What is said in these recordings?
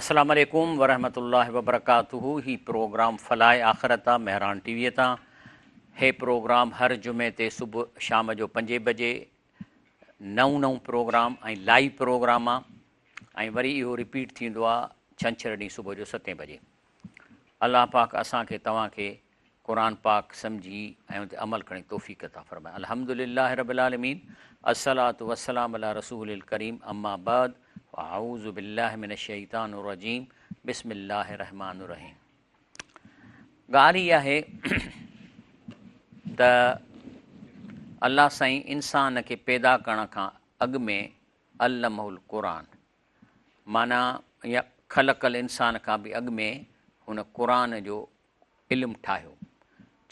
السلام عليڪم ورحمة الله وبرڪاته هي پروگرام فلاح آخرت آ مهراڻ ٽي وي تان هي پروگرام هر جمعي تي صبح شام جو پنجي بجي نئون نئون پروگرام ۽ لائيو پروگرام آ ۽ وري اهو رپيٽ ٿيندو آ ڇنڇر ڏينهن صبح جو ستين بجي الله پاڪ اسان کي توهان کي قرآن پاڪ سمجهي ۽ ان تي عمل ڪرڻ جي توفيق عطا فرمائي الحمد لله رب العالمين الصلوة والسلام علي رسول الڪريم اما بعد فاعوذ بالله من الشيطان الرجيم بسم الله الرحمن الرحيم ڳالھ اها آهي ته الله سائين انسان کي پيدا ڪرڻ کان اڳ ۾ علمه القرآن معنی يا خلق الانسان کان به اڳ ۾ هن قرآن جو علم ٺاهيو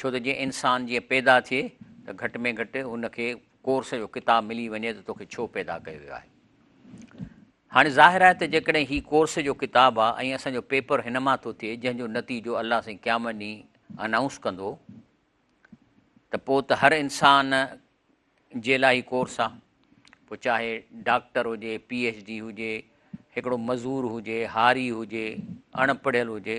ڇو ته جي انسان جيئن پيدا ٿئي ته گهٽ ۾ گهٽ هن کي ڪورس جو ڪتاب ملي وڃي ته توکي ڇو پيدا ڪيو ويو آهي هاڻي ظاهر آهي ته جيڪڏهن هي ڪورس جو ڪتاب آهي ۽ اسان جو پيپر هن مان ٿو ٿئي جنهن جو نتيجو الله سائين قيامت ڏينهن انائونس ڪندو ته پوء ته هر انسان جي لاء هي ڪورس آهي پوء چاهي ڊاڪٽر هجي پي ايچ ڊي هجي هڪڙو مزور هجي هاري هجي اڻ پڙهيل هجي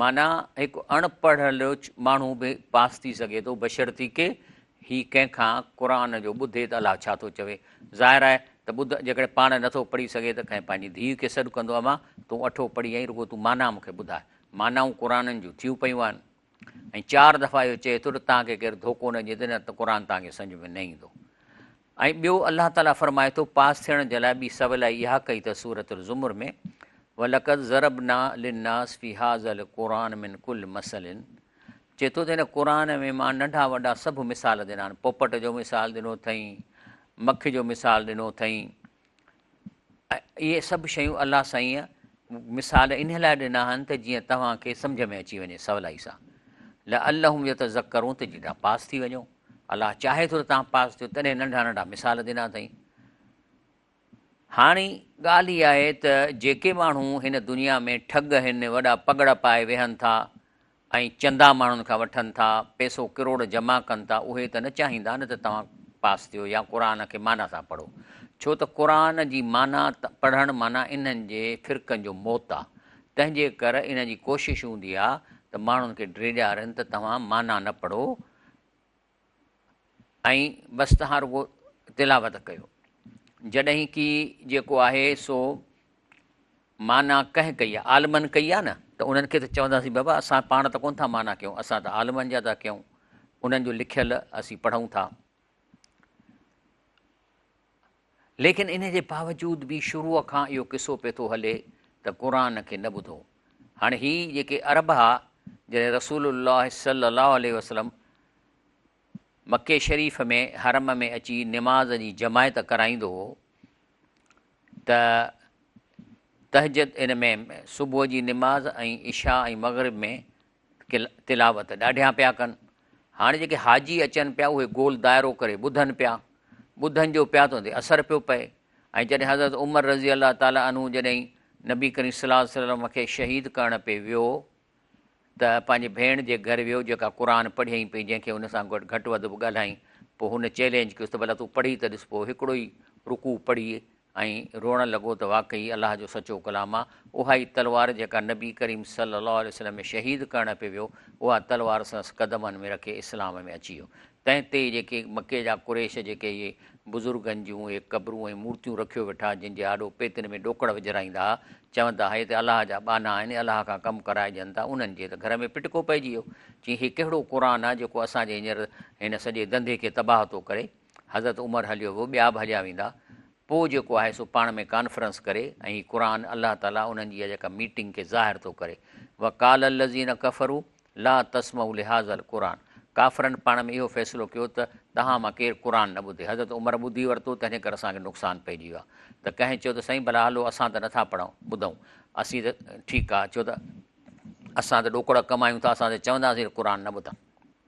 معنيٰ هڪ اڻ پڙهيل ماڻهو به پاس ٿي سگهي ٿو بشرطيڪه هي ڪنهن کان قرآن جو ٻڌي ته الله ڇا ٿو چوي. ظاهر آهي ته ٻڌ جيڪڏهن پاڻ نه ٿو پڙهي سگهي ته ڪنهن پنهنجي ڌيء کي سڏ ڪندو امان تون اٺو پڙهي ۽ رڳو تون معنيٰ مون کي ٻڌاء. معنائون قرآنن جون ٿيون پيون آهن ۽ چار دفعا اهو چئي ٿو ته تان کي ڪير ڌوڪو نه ڏئي ته نه ته قرآن تان کي سمجهه ۾ نه ايندو. ۽ ٻيو الله تعالي فرمائي ٿو پاس ٿيڻ جي لاء ٻي سولائي اها ڪئي ته سورة الزمر ۾ ولقد ضربنا للناس في هذا القرآن من ڪل مثل چي ٿو ته هن قرآن ۾ مان ننڍا وڏا سڀ مثال ڏنا آهن پوپٽ جو مثال ڏنو اٿئين مک جو مثال ڏنو اٿئين اهي سڀ شيون الله سائينء مثال انهيء لاء ڏنا آهن ته جيئن توهان کي سمجهه ۾ اچي وڃي سولائي سان لعلهم يتذكرون ته جيئن توهان پاس ٿي وڃو الله چاهي ٿو ته توهان پاس ٿيو تڏهن ننڍا ننڍا مثال ڏنا اٿئي هاڻي ڳالهه هي آهي ته جيڪي ماڻهو هن دنيا ۾ ٺڳ هن وڏا پگڙا پائي ويهن ٿا ۽ چندا ماڻهن کان وٺن ٿا، پئسو ڪروڙ جمع ڪن ٿا، اهي ته نه چاهيندا نه ته توهان پاس ٿيو يا قرآن کي معنيٰ سان پڙهو. ڇو ته قرآن جي معنيٰ پڙهڻ معنيٰ انهن جي فرقن جو موت آ. تنهن جي ڪر انهن جي ڪوشش هوندي آ ته ماڻهن کي ڊيڄارين ته توهان معنيٰ نه پڙهو. ۽ بس تهان رڳو تلاوت ڪيو جڏهن ڪي جيڪو آهي سو مانا ڪنهن ڪئي آهي عالمن ڪئي آهي نه ته انهن کي ته چونداسين بابا اسان پاڻ ته ڪون ٿا مانا ڪيون اسان ته عالمن جا ٿا ڪيون انهن جو لکيل اسين پڙهون ٿا ليڪن ان جي باوجود به شروع کان اهو قصو پئي ٿو هلي ته قرآن کي نه ٻڌو. هاڻي هي جيڪي عرب ها جڏهن رسول الله صلي الله عليه وسلم مڪي شريف ۾ حرم ۾ اچي نماز جي جماعت ڪرائيندو هو ته تهجد ان ۾ صبح جي نماز ۽ عشاء ۽ مغرب ۾ تلاوت ڏاڍيان پيا ڪن. هاڻي جيڪي حاجي اچن پيا اهي گول دائرو ڪري ٻڌن پيا. ٻڌن جو پيا ته ان تي اثر پيو پئي ۽ جڏهن حضرت عمر رضي الله تعالٰي عنه جڏهن نبي ڪريم صلي الله عليه وسلم کي شهيد ڪرڻ پئي ويو ته پنهنجي ڀيڻ جي گهر ويو جيڪا قرآن پڙهيائين پئي جنهن کي ان سان گڏ گهٽ وڌ به ڳالهائين پوء هن چئلينج ڪيس ته ڀلا تون پڙهي ته ڏس پوء هڪڙو ئي رڪوع پڙهي ۽ روئڻ لڳو ته واقعي الله جو سچو ڪلام آ، اها ئي تلوار جيڪا نبي ڪريم صلي الله عليه وسلم ۾ شهيد ڪرڻ پي ويو، اها تلوار سندس قدمن ۾ رکي اسلام ۾ اچي ويو. تنهن تي ئي جيڪي مڪي جا قريش جيڪي اهي بزرگن جون اهي قبرون ۽ مورتيون رکيو ويٺا جن جي آڏو پيتن ۾ ڏوڪڙ وجهرائيندا ها، چوندا ها هي ته الله جا ٻانها آهن، الله کان ڪم ڪرائجن ٿا، انهن جي ته گهر ۾ ڦٽڪو پئجي ويو. چيائين هي ڪهڙو قرآن آ جيڪو اسان جي هينئر هن سڄي ڌنڌي کي تباهه ٿو ڪري. حضرت عمر هليو ويو، ٻيا به هليا ويندا، پوء جيڪو آهي سو پاڻ ۾ ڪانفرنس ڪري ۽ هي قرآن الله تعاليٰ انهن جي اها جيڪا ميٽنگ کي ظاهر ٿو ڪري وقال الذين ڪفرو لا تسمعو لهذا القرآن ڪافرن پاڻ ۾ اهو فيصلو ڪيو ته توهان مان ڪير قرآن نه ٻڌي حضرت عمر ٻڌي ورتو تنهنجي ڪري اسان کي نقصان پئجي ويو آهي ته ڪنهن چيو ته سائين ڀلا هلو اسان ته نٿا پڙهون ٻڌون اسين ته ٺيڪ آهي چيو ته اسان ته ڏوڪڙا ڪم آهيون ٿا اسان ته چونداسين قرآن نه ٻڌن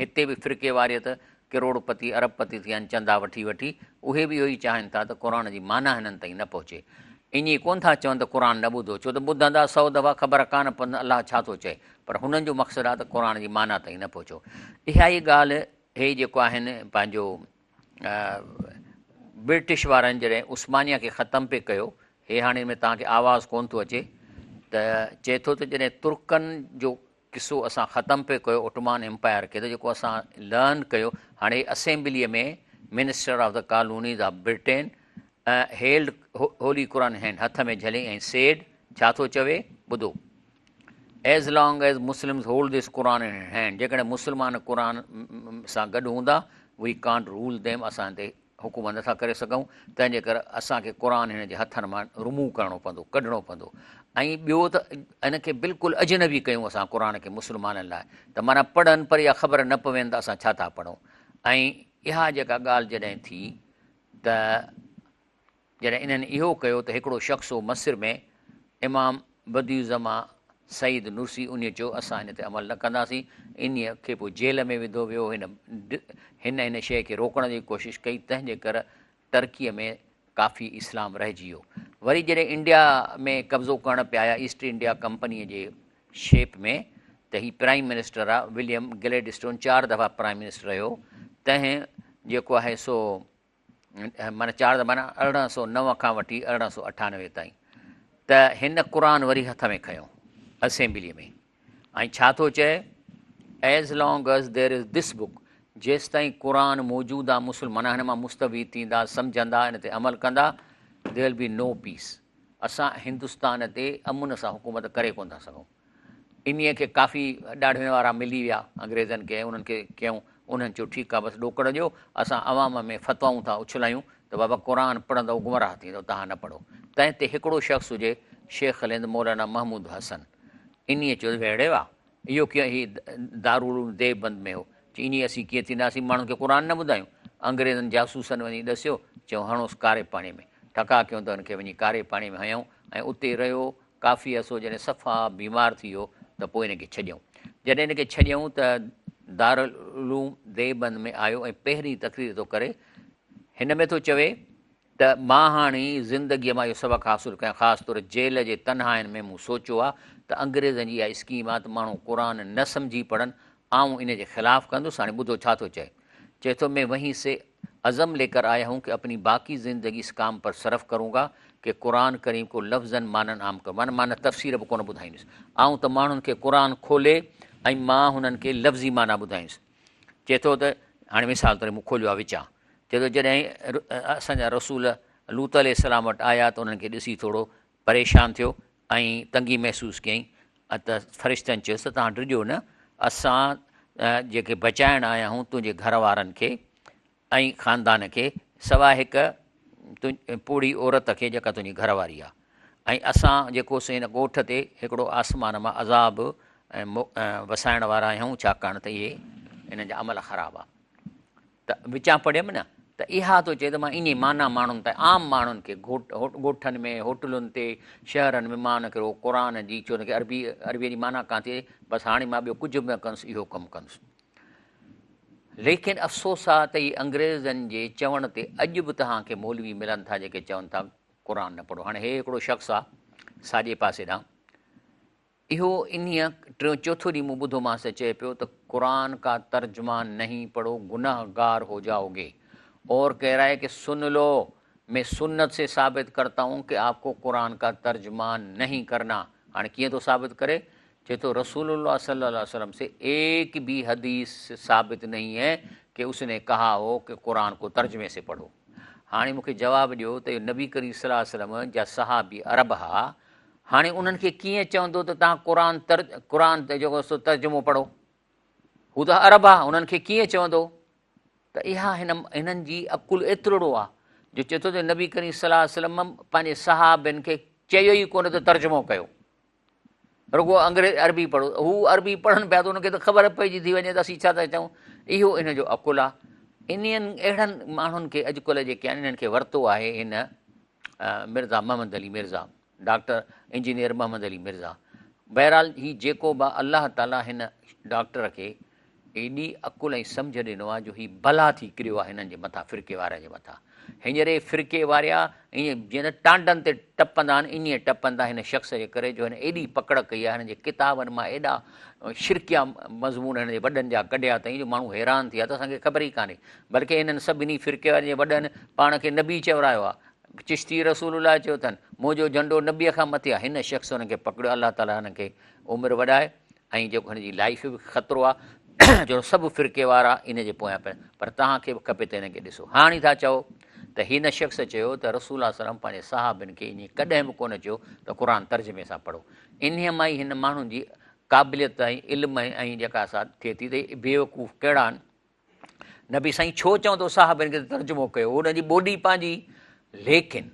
هتي به فرقي واريت، ڪروڙ پتي ارب پتي ٿيا آهن چندا وٺي وٺي، اهي به اهو ئي چاهين ٿا ته قرآن جي معنيٰ هنن تائين نه پهچي. ائين ڪونه ٿا چون ته قرآن نه ٻڌو، ڇو ته ٻڌندا سؤ دفعا خبر ڪانه پوندن الله ڇا ٿو چئي، پر هنن جو مقصد آهي ته قرآن جي معنيٰ تائين نه پهچو. اها ئي ڳالهه هي جيڪو آهن پنهنجو برٽش وارن جڏهن عثمانيه کي ختم پي ڪيو، هي هاڻي ان ۾ توهان کي آواز ڪونه ٿو اچي ته چئي ٿو ته جڏهن ترڪن جو قصو اسان ختم پئي ڪيو اوٽمان امپائر کي ته جيڪو اسان لرن ڪيو هاڻي assembly ۾ minister of the colonies of Britain held holy Quran هين هٿ ۾ جهلي ۽ سيڊ ڇا ٿو چوي ٻڌو as long as Muslims hold this Quran هين جيڪڏهن مسلمان قرآن سان گڏ هوندا وي ڪانٽ رول ديم اسان تي حڪومت نه ٿا ڪري سگهون تنهن جي ڪري اسان کي قرآن هن جي هٿن مان رموو ڪرڻو پوندو ڪڍڻو پوندو ۽ ٻيو ته ان کي بلڪل اجنبي ڪيون اسان قرآن کي مسلمانن لاء ته معنيٰ پڙهن پر اها خبر نه پوين ته اسان ڇا ٿا پڙهون ۽ اها جيڪا ڳالهه جڏهن ٿي ته جڏهن انهن اهو ڪيو ته هڪڙو شخص هو مصر ۾، امام بديع الزمان سعيد نرسي انهيء چيو، اسان ان تي عمل نه ڪنداسين. انهيء کي پوء جيل ۾ وڌو ويو. هن هن ان شيء کي روڪڻ جي ڪوشش ڪئي، تنهن جي ڪر ٽرڪيء ۾ ڪافي اسلام رهجي ويو. وري جڏهن انڊيا ۾ قبضو ڪرڻ پيا آيا ايسٽ انڊيا ڪمپنيء جي شيپ ۾ ته هي پرائيم منسٽر آ. وليم گليڊسٽون چار دفعا پرائيم منسٽر رهيو، تنهن جيڪو آهي سو معنيٰ چار زمانا ارڙهن سو نو کان وٺي ارڙهن سو اٺانوي تائين ته هن قرآن وري هٿ ۾ کنيو اسيمبلي ۾ ۽ ڇا ٿو چئي as long as there is this book جيس تائين قرآن موجود آ مسلمان هن مان مستوي ٿيندا سمجهندا ان تي عمل ڪندا ديل بي نو پيس اسان هندستان تي امن سان حڪومت ڪري ڪون ٿا سگهون انهيء کي ڪافي ڏاڙهڻ وارا ملي ويا انگريزن کي ۽ انهن کي چيائون، انهن چيو، ٺيڪ آهي، بس ڏوڪڙ ڏيو، اسان عوام ۾ فتوائون ٿا اڇلايون ته بابا قرآن پڙهندؤ گمراهه ٿيندؤ، تهان نه پڙهو. تنهن تي هڪڙو شخص هجي شيخ الهند مولانا محمود حسن. انهيء چيو، ويڙهي واه! اهو ڪيئن هي دارالعلوم ديوبند ۾ هو. چي، انهيء اسين ڪيئن ٿينداسين ماڻهن کي قرآن نه ٻڌايون. انگريزن جاسوسن وڃي ڏسيو، چيائون، هڻوس ڪاري پاڻيء ۾. ٺڪاء ڪيون ته هن کي وڃي ڪاري پاڻيء ۾ هنيائون ۽ اتي رهيو ڪافي عرصو جڏهن صفا بيمار ٿي ويو ته پوء هن کي ڇڏيائون. جڏهن هن کي ڇڏيائون ته دارالعلوم ديوبند ۾ آيو ۽ پهرين تقرير ٿو ڪري. هن ۾ ٿو چوي ته مان هاڻي زندگيء مان اهو سبق حاصل ڪيان خاص طور جيل جي تنهائين ۾ مون سوچيو آ ته انگريزن جي اها اسڪيم آ ته ماڻهو قرآن نه سمجهي پڙهن آئون ان جي خلاف ڪندس هاڻي ٻڌو ڇا ٿو چئي چئي ٿو مين وهين سي عزم لي ڪر آيا هون ڪي اپني باقي زندگي اس ڪام پر صرف ڪرون گا ڪي قرآن ڪريم ڪو لفظن معنن عام ڪرون معنيٰ معنيٰ تفسير به ڪونه ٻڌائيندس آئون ته ماڻهن کي قرآن کولي ۽ مان هنن کي لفظي معنيٰ ٻڌائيندس چي ٿو ته هاڻي مثال طور مون کوليو آهي وچان چي ٿو جڏهن اسان جا رسول لوط عليه السلام وٽ آيا ته انهن کي ڏسي ٿورو پريشان ٿيو ۽ تنگي محسوس ڪيائين ته فرشتن چيس ته توهان ڊڄو نه اسان جيڪي بچائڻ آيا آهيون تنهنجي گهر وارن کي ۽ خاندان کي سواء هڪ پوڙهي عورت کي جيڪا تنهنجي گهر واري آهي ۽ اسان جيڪو سو هن ڳوٺ تي هڪڙو آسمان مان عذاب وسائڻ وارا آهيون ڇاڪاڻ ته اهي هنن جا عمل خراب آهي ته وچان پڙهيم نه ته اها ٿو چئي ته مان انهي معنيٰ ماڻهن تائين عام ماڻهن کي ڳوٺن ۾ هوٽلن تي شهرن ۾ مان ان کي رڳو قرآن جي ڇو نه عربي عربيء جي معنيٰ ڪانه ٿئي بس هاڻي مان ٻيو ڪجهه به نه ڪنس اهو ڪم ڪنس ليڪن افسوس آ ته هي انگريزن جي چوڻ تي اڄ به توهان کي مولوي ملن ٿا جيڪي چون ٿا قرآن نه پڙهو هاڻي هي هڪڙو شخص آ ساڄي پاسي ڏانهن اهو انهيء ٽيون چوٿون ڏينهن مون ٻڌو مانس چئي پيو ته قرآن ڪا ترجما نهين پڙهو گنه گار هو جائو گي اور ڪهه رها هي ڪه سن لو مين سنت سي ثابت ڪرتا هون ڪه آپ ڪو قرآن ڪا ترجما نهين ڪرنا هاڻي ڪيئن ٿو ثابت ڪري چئي ٿو رسول الله صلي الله عليه وسلم سي ايڪ بي حديث ثابت نهين هي ڪه اس ني ڪها هو ڪه قرآن ڪو ترجمي سي پڙهو هاڻي مون کي جواب ڏيو ته نبي ڪريم صلي الله عليه وسلم جا صحابي عرب ها هاڻي انهن کي ڪيئن چوندو ته توهان قرآن تر قرآن جيڪو سو ترجمو پڙهو هو ته عرب آ انهن کي ڪيئن چوندو ته اها هن هنن جي عقل ايترڙو آ جو چئي ٿو ته نبي ڪريم صلي الله عليه وسلم پنهنجي صحابين کي چيو ئي ڪونه ته ترجمو ڪيو رڳو انگريز عربي پڙهو هو عربي پڙهن پيا ته انهن کي ته خبر پئجي ٿي وڃي ته اسين ڇا ٿا چئون اهو ان جو عقل آ انهن اهڙن ماڻهن کي اڄڪلهه جيڪي آهن انهن کي ورتو آهي هن مرزا محمد علي مرزا، ڊاڪٽر انجنيئر محمد علي مرزا، بهرحال هي جيڪو به آ الله تعاليٰ هن ڊاڪٽر کي ايڏي عقل ۽ سمجهه ڏنو آ جو هي بلا ٿي ڪريو آ هنن جي مٿان فرقي وارن جي مٿان هينئري فرقي واريا ائين جيئن ته ٽانڊن تي ٽپندا آهن ائين ٽپن ٿا هن شخص جي ڪري جو هن ايڏي پڪڙ ڪئي آ هن جي ڪتابن مان ايڏا شرڪيا مضمون هن جي وڏن جا ڪڍيا اٿئين جو ماڻهو حيران ٿي ويا ته اسان کي خبر ئي ڪانهي بلڪه انهن سڀني فرقيوارين جي وڏن پاڻ کي نبي چئي ورايو آ. چشتي رسول الله چيو اٿن، منهنجو جهنڊو نبي کان مٿي آ. هن شخص انهن کي پڪڙيو الله تعالي هن کي عمر وڏائي ۽ جيڪو هن جي لائيف به خطرو آ جو سڀ فرقي وارا ان جي پويان پين پر توهان کي به کپي ته هن کي ڏسو هاڻي ٿا چئو ته هن شخص چيو ته رسول الله وسلم پنهنجي صحابين کي ائين ڪڏهن به ڪونه چيو ته قرآن ترجمي سان پڙهو انهي مان ئي هن ماڻهن جي قابليت ۽ علم ۽ جيڪا سا ٿئي ٿي ته بيوقوف ڪهڙا آهن نبي سائين ڇو چوندو صحابين کي ته ترجمو ڪيو هو ان جي ٻوڏي پنهنجي ليڪن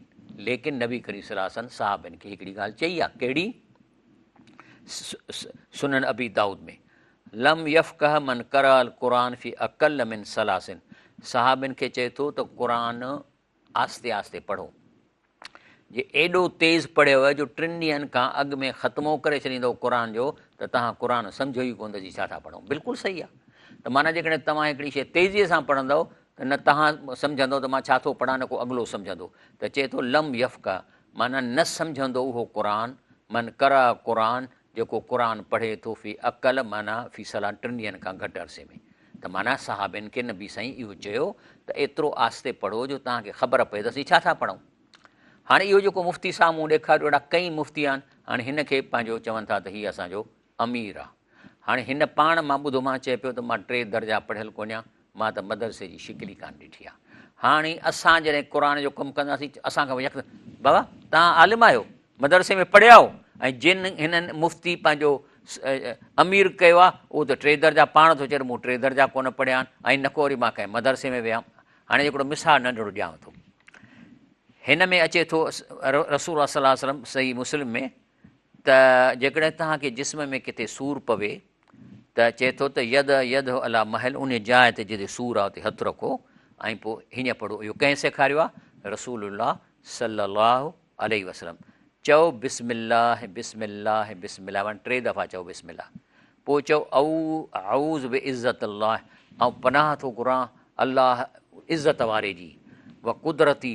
ليڪن نبي ڪريم صلي الله عليه وسلم صحابين کي هڪڙي ڳالهه چئي آ ڪهڙي سنن ابي داؤد ۾ لم يفقه من قرا القرآن في اقل من ثلاثن صحابين کي چئي ٿو ته قرآن آهستي آهستي پڙهو. جي ايڏو تيز پڙهيو جو ٽن ڏينهن کان اڳ ۾ ختمو ڪري ڇڏيندؤ قرآن جو ته توهان قرآن سمجهو ئي ڪونه ته جي ڇا ٿا پڙهون. بلڪل صحيح آهي ته معنيٰ جيڪڏهن توهان هڪڙي شيء تيزيء سان پڙهندؤ ته نه توهان سمجهندؤ ته مان ڇا ٿو پڙهان نه ڪو اڳلو سمجهندو ته چئي ٿو لم يفقه معنيٰ نه سمجهندو اهو قرآن من قرأ قرآن جيڪو قرآن پڙهي ٿو في اقل معنيٰ في صلاح ٽن ڏينهن کان گهٽ عرصي ۾ ته معنيٰ صحابين کي نبي سائين اهو چيو ته ايترو آهستي پڙهو جو توهان کي خبر پئي ته اسين ڇا ٿا پڙهون هاڻي اهو جيڪو مفتي صاحب مون ڏيکاريو اهڙا ڪئين مفتي آهن هاڻي هن کي پنهنجو چون ٿا ته هي اسان جو امير آهي هاڻي هن پاڻ مان ٻڌو مان چئي پيو ته مان ٽي درجا پڙهيل ڪونهيان مان ته مدرسي جي شڪل ئي ڪانه ڏٺي آ. هاڻي اسان جڏهن قرآن جو ڪم ڪنداسين اسان کان يڪ بابا تهان عالم آهيو مدرسي ۾ پڙهيا آهو ۽ جن هنن مفتي پنهنجو امير ڪيو آ اهو ته ٽي درجا پاڻ ٿو چئي مون ٽي درجا ڪونه پڙهيا آهن ۽ نه ڪو وري مان ڪنهن مدرسي ۾ ويا هاڻي هڪڙو مثال ننڍڙو ڏيانو ٿو هن ۾ اچي ٿو رسول الله صلي الله عليه وسلم صحيح مسلم ۾ ته جيڪڏهن توهان کي جسم ۾ ڪٿي سور پوي ته چئي ٿو ته يد يده الا محل ان جاء تي جتي سور آ اتي هٿ رکو ۽ پوء هينئن پڙهو اهو ڪنهن سيکاريو آ رسول الله صلي الله عليه وسلم چئو بسم الله بسم الله بسم الله معنی ٽي دفعا چئو بسم الله پوء چئو او اعوذ بعزت الله آئون پناهه ٿو گهران الله عزت واري جي و قدرتي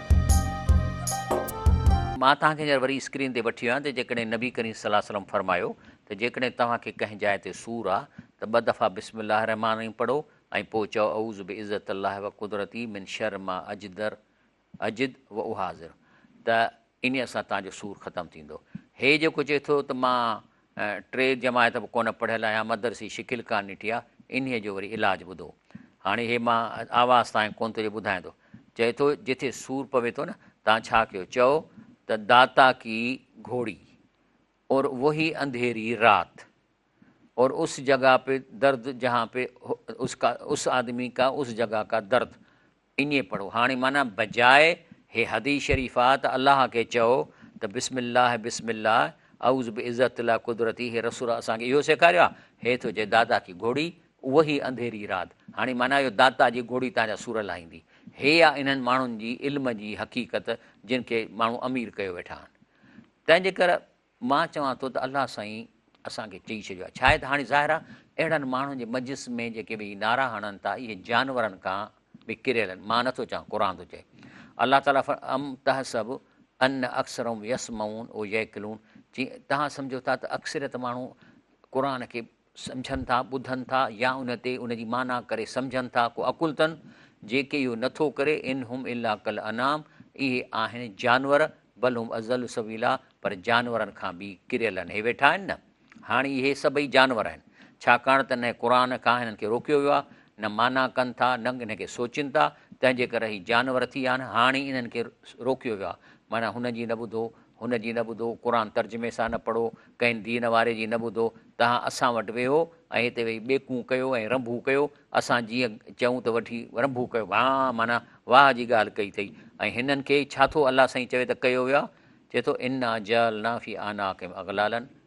مان توهان کي هينئر وري اسڪرين تي وٺي ويو آهيان ته جيڪڏهن نبي ڪريم صلي الله عليه وسلم فرمايو ته جيڪڏهن توهان کي ڪنهن جاء تي سور آ ته ٻه دفعا بسم الله الرحمٰن الرحيم پڙهو ۽ پوء چئو اعوذ بعزت الله وقدرته من شر ما اجدر اجد واحاذر ته انهيء سان توهان جو سور ختم ٿيندو. هي جيڪو چئي ٿو ته مان ٽي جماعت به ڪونه پڙهيل آهيان مدرسي شڪل ڪانه ڏٺي آ انهي جو وري علاج ٻڌو هاڻي هي مان آواز تائين ڪونه ٿو جو ٻڌايان ٿو چئي ٿو جٿي سور پوي ٿو نه تان ڇا ڪيو چئو ته داتا ڪي گهوڙي اور وهي انڌيري رات اور اس جگا پي درد جهان پي اس ڪا اس آدمي ڪا اس جگا ڪا درد ائين پڙهو هاڻي معنيٰ بجاء هي حديث شريف آ ته الله کي چئو ته بسم الله بسم الله اعوذ بعزت الله قدرتي هي رسول اسان کي اهو سيکاريو آ هي ٿو چئي داتا ڪي گهوڙي اوهي انڌيري رات هاڻي معنيٰ اهو داتا جي گهوڙي تان جا سور لاهيندي هي آ انهن ماڻهن جي علم جي حقيقت جن کي ماڻهو امير ڪيو ويٺا آهن تنهنجي ڪري مان چوان ٿو ته الله سائين اسان کي چئي ڇڏيو آهي. شايد هاڻي ظاهر آهي اهڙن ماڻهن جي مجلس ۾ جيڪي به هي نعرا هڻن ٿا اهي جانورن کان به ڪريل آهن. مان نٿو چوان قرآن ٿو چئي. الله تعاليٰ فرمايو ام تحسب ان اڪثرهم يسمعون و يعقلون چي توهان سمجهو ٿا ته اڪثريت ماڻهو قرآن کي سمجهن ٿا، ٻڌن ٿا يا ان تي ان جي معنيٰ ڪري سمجهن ٿا ڪو عقل تن جيڪي اهو نه ٿو ڪري ان هم الا کالانعام اهي آهن جانور بل هم اضل سبيلا پر جانورن کان به ڪريل آهن هي ويٺا آهن نه هاڻي اهي سڀئي جانور آهن ڇاڪاڻ ته نه قرآن کان هنن کي روڪيو ويو آهي نه معنيٰ ڪن ٿا نه ان کي سوچين ٿا تنهن جي ڪري هي جانور ٿي ويا آهن هاڻي انهن کي روڪيو ويو آهي معنيٰ هنن جي نه ٻڌو هن جي نه ٻڌو، قرآن ترجمي سان نه پڙهو، ڪنهن دين واري جي نه ٻڌو، تهان اسان وٽ ويهو ۽ هتي ويهي ٻيڪون ڪيو ۽ رنڀون ڪيو، اسان جيئن چئون ته وٺي رنڀون ڪيو ڀاء معنيٰ واهه جي ڳالهه ڪئي اٿئي ۽ هنن کي ڇا ٿو الله سائين چوي ته ڪيو ويو آهي، چوي ٿو انا جعلنا في اعناقهم اغلالا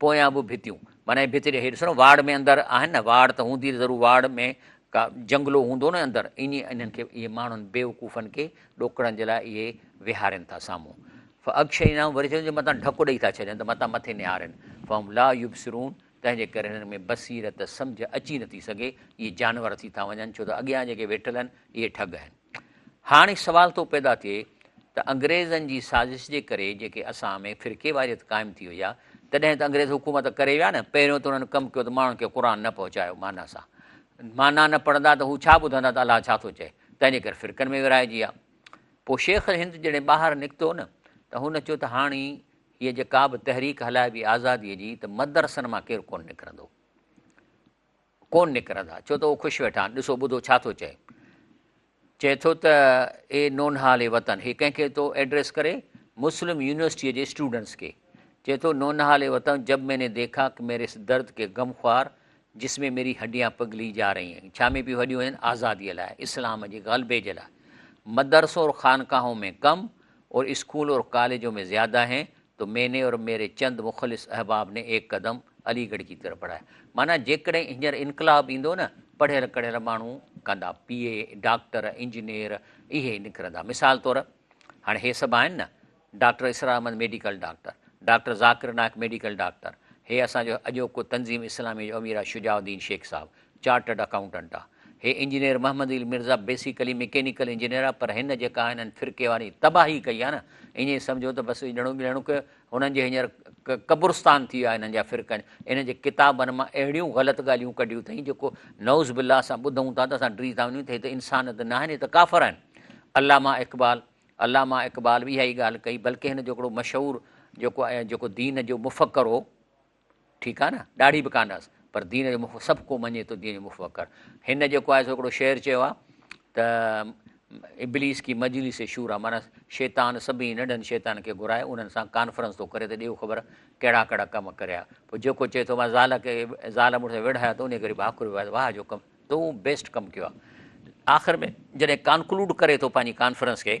پويان به ڀتيون معنيٰ هي ڀت جي هي ڏسو نه واڙ ۾ اندر آهن نه واڙ ته هوندي ضرور واڙ ۾ ڪا جنگلو هوندو نه اندر ايئن انهن کي اهي ماڻهن بيوقوفن کي ڏوڪڙڻ جي لاء اهي ويهارين ٿا سامهون فاغشيناهم وري چون جو متان ڍڪ ڏئي ٿا ڇڏين ته متان مٿي نهارين فهم لا يبصرون تنهن جي ڪري هنن ۾ بصيرت سمجهه اچي نٿي سگهي اهي جانور ٿي ٿا وڃن ڇو ته اڳيان جيڪي ويٺل آهن اهي ٺڳ آهن. هاڻي سوال ٿو پيدا ٿئي ته انگريزن جي سازش جي ڪري جيڪي اسان ۾ فرقيواريت قائم ٿي وئي آ تڏهن ته انگريز حڪومت ڪري ويا نه پهريون ته انهن ڪم ڪيو ته ماڻهن کي قرآن نه پهچايو معنيٰ سان معنيٰ نه پڙهندا ته هو ڇا ٻڌندا ته الله ڇا ٿو چئي تنهن جي ڪري فرقن ۾ ورهائجي آ پوء شيخ الهند جڏهن ٻاهر نڪتو نه ته هن چيو ته هاڻي هيء جيڪا به تحريڪ هلائبي آزاديء جي ته مدرسن مان ڪير ڪونه نڪرندو. ڪونه نڪرندا، ڇو ته اهو خوش ويٺا آهن، ڏسو ٻڌو ڇا ٿو چئي. چئي ٿو ته اي نونهالي وطن، هي ڪنهن کي ٿو ايڊريس ڪري، مسلم يونيورسٽيء جي اسٽوڊنٽس کي. چئي ٿو، نونهالي وطن جب مين ني ديکا ڪه ميري اس درد ڪي غم خوار جس مين ميري هڏيان پگهلي جا رهي هين. ڇا ۾ پيون هڏيون هين؟ آزاديء لاء، اسلام جي غلبي جي لاء. مدرسون اور خانقاهون مين ڪم، اور اسڪول اور ڪاليجون مين زياده هين، تو مين ني اور ميري چند مخلص احباب ني ايڪ قدم علي گڙھ ڪي طرف بڙھايا معنيٰ جيڪڏھن ھينئر انقلاب ايندو نھ پڙھيل ڪڙھيل ماڻھو ڪندا پي اي ڊاڪٽر انجنيئر اھي نڪرندا مثال طور ھاڻي ھي سڀ آھن نھ doctor Israr Ahmed medical doctor doctor Zakir Naik medical doctor ھي اسان جو اڄوڪو تنظيم اسلامي جو امير آھي شجاع الدين شيخ صاحب چارٽرڊ اڪائونٽنٽ آ. هي engineer Muhammad Ali Mirza basically mechanical engineer آ پر هن جيڪا هنن فرقي واري تباهي ڪئي آ نه ائين سمجهو ته بس اڄڻو ٻڄڻو ڪيو هنن جي هينئر قبرستان ٿي ويو آ هنن جا فرقن ان جي ڪتابن مان اهڙيون غلط ڳالهيون ڪڍيون اٿئين جيڪو نعوذ بالله اسان ٻڌون ٿا ته اسان ڊري ٿا وڃون ته هي ته انسان ته ناهن هي ته ڪافر آهن علامه اقبال علامه اقبال به اها ئي ڳالهه ڪئي بلڪه هن جو هڪڙو مشهور جيڪو جيڪو دين جو مفڪر هو ٺيڪ آهي نه ڏاڙهي به ڪانه هئس پر دين جو مخ سڀ ڪو مڃي ٿو دين جو مفڪر هن جيڪو آهي سو هڪڙو شعر چيو آهي ته ابليس ڪي مجلس شورا مانا شيطان سڀني ننڍن شيطان کي گهرائي انهن سان ڪانفرنس ٿو ڪري ته ڏيو خبر ڪهڙا ڪهڙا ڪم ڪريا پوء جيڪو چئي ٿو مان زال کي زال مڙس ويڙهايا ته ان ڪري ڀاڪر ويا واهه جو ڪم تو بيسٽ ڪم ڪيو آخر ۾ جڏهن ڪانڪلوڊ ڪري ٿو پنهنجي ڪانفرنس کي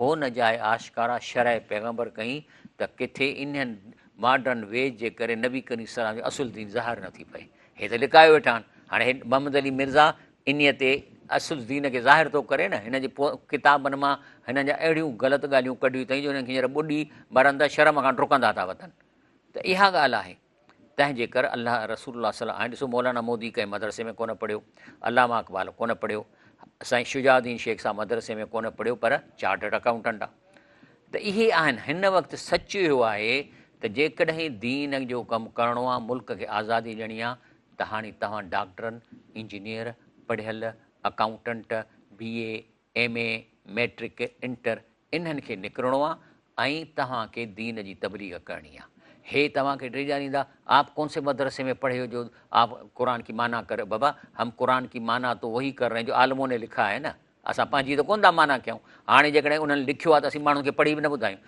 هو نه جاء آشڪارا شرح پيغمبر ڪئين ته ڪٿي انهن ماڊرن ويز جي ڪري نبي ڪريم صلي الله عليه وسلم جو اصل دين ظاهر نه ٿي پئي. هي ته لڪايو ويٺا آهن. هاڻي محمد علي مرزا انهيء تي اصل دين کي ظاهر ٿو ڪري نه. هن جي ڪتابن مان هنن جا اهڙيون غلط ڳالهيون ڪڍيون اٿئي جو هنن کي هينئر ٻڏي مرن ته شرم کان ڊڪندا ٿا وتن. ته اها ڳالهه آهي. تنهن جي ڪر الله رسول الله صلي هاڻي ڏسو مولانا مودي ڪنهن مدرسي ۾ ڪونه پڙهيو علامه اقبال ڪونه پڙهيو سائين شجاع الدين شيخ صاحب مدرسي ۾ ڪونه پڙهيو پر چارٽرڊ اڪاؤنٽنٽ آ ته اهي آهن هن وقت سچ اهو آهي ته جيڪڏهن دين جو ڪم ڪرڻو آ ملڪ کي آزادي ڏيڻي آ ته هاڻي توهان ڊاڪٽرن انجنيئر پڙهيل accountant B A M A, matric, inter انهن کي نڪرڻو آ ۽ توهان کي دين جي تبليغ ڪرڻي آ. هي توهان کي ڊيڄاريندا آپ ڪون سي مدرسي ۾ پڙهي هو جو آپ قرآن ڪي معنيٰ ڪر بابا هم قرآن ڪي معنيٰ تو وهي ڪر رهي هين جو عالمون ني لکا هي نه اسان پنهنجي ته ڪون ٿا معنيٰ ڪيون هاڻي جيڪڏهن انهن لکيو آ ته اسين ماڻهن کي پڙهي به نه ٻڌايون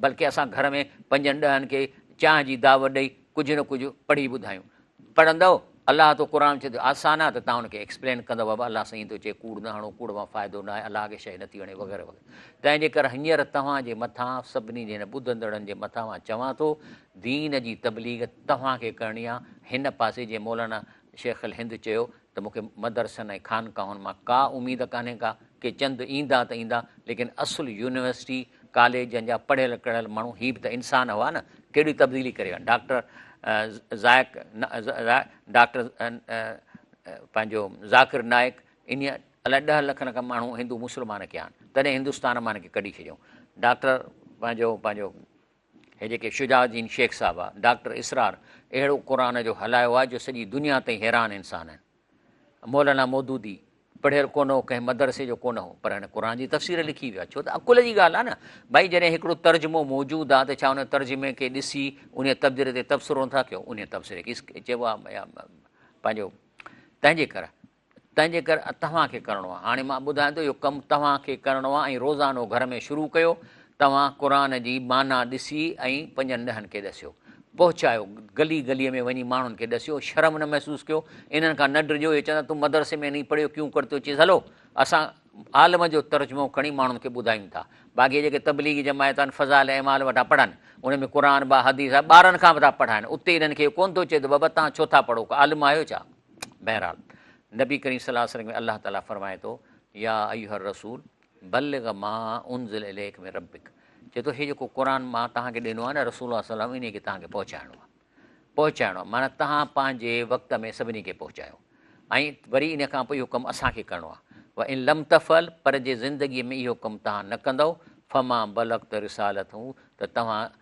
بلڪه اسان گهر ۾ پنجن ڏهن کي چانهه جي دعوت ڏئي ڪجهه نه ڪجهه پڙهي ٻڌايون پڙهندؤ، الله تو قرآن چي ٿو آسان آ ته تان ان کي ايڪسپلين ڪندؤ بابا الله سئين ٿو چي ڪوڙ نه هڻو ڪوڙ مان فائدو نه آهي الله کي شيء نٿي وڻي وغيره وغيره تنهن جي ڪر هنيئر توهان جي مٿان سڀني جي هن ٻڌندڙن جي مٿان مان چوان ٿو دين جي تبليغ توهان کي ڪرڻي آ هن پاسي جيئن مولانا شيخ الهند چيو ته مون کي مدرسن ۽ خانقاهن مان ڪا اميد ڪانهي ڪا، ڪي چند ايندا ته ايندا، ليڪن اصل يونيورسٽي ڪاليجن جا پڙهيل ڪڙهيل ماڻهو هي به ته انسان هئا نه، ڪهڙي تبديلي ڪري ويا. ڊاڪٽر ذائق ڊاڪٽر پنهنجو ذاڪر نائيڪ انهيء الائي ڏهه لک لک ماڻهو هندو مسلمان ڪيا آهن، تڏهن هندستان مان هن کي ڪڍي ڇڏيائون. ڊاڪٽر پنهنجو پنهنجو هي جيڪي شجاع الدين شيخ صاحب آ ڊاڪٽر اسرار اهڙو قرآن جو هلايو آ جو سڄي دنيا تائين حيران انسان آهن مولانا مودودي پڙهيل ڪونه هو ڪنهن مدرسي جو ڪونه هو پر هن قرآن جي تفسير لکي ويو آ ڇو ته عقل جي ڳالهه آ نه ڀائي جڏهن هڪڙو ترجمو موجود آ ته ڇا ان ترجمي کي ڏسي ان تبدير تي تبصرو نٿا ڪيو ان تبصري کي چئبو آ پنهنجو تنهنجي ڪري تنهن جي ڪري توهان کي ڪرڻو آهي. هاڻي مان ٻڌايان ٿو اهو ڪم توهان کي ڪرڻو آهي ۽ روزانو گهر ۾ شروع ڪيو. توهان قرآن جي معنيٰ ڏسي ۽ پنجن ڏهن کي ڏسيو. پهچايو. گلي گلي ۾ وڃي ماڻهن کي ڏسيو. شرم نه محسوس ڪيو. انهن کان نه ڊڄو. اهي چوندا تون مدرسي ۾ نهين پڙهيو ڪيون ڪرتي اچيس. هلو اسان عالم جو ترجمو کڻي ماڻهن کي ٻڌايون ٿا. باقي جيڪي تبليغي جماعت آهن فضائل اعمال وٺا پڙهن. ان ۾ قرآن با حديث آهي. ٻارن کان به ٿا پڙهائن. اتي انهن کي اهو ڪونه ٿو چئي ته بابا توهان ڇو ٿا پڙهو ڪو عالم آهيو ڇا؟ بهرحال نبي ڪريم صلي الله عليه وسلم کي الله تعالي فرمائي ٿو يا ايها الرسول بلغ ما انزل اليك من ربك چي ٿو هي جيڪو قرآن مان تهان کي ڏنو آهي نه رسول الله صلي الله عليه وسلم انهي کي تهان کي پهچائڻو آهي پهچائڻو آهي معنی تهان پنهنجي وقت ۾ سڀني کي پهچايو ۽ وري ان کان پوء اهو ڪم اسان کي ڪرڻو آهي و ان لم تفعل پر جي زندگي ۾ اهو ڪم تهان نه ڪندو فما بلغت رسالت هو ته توهان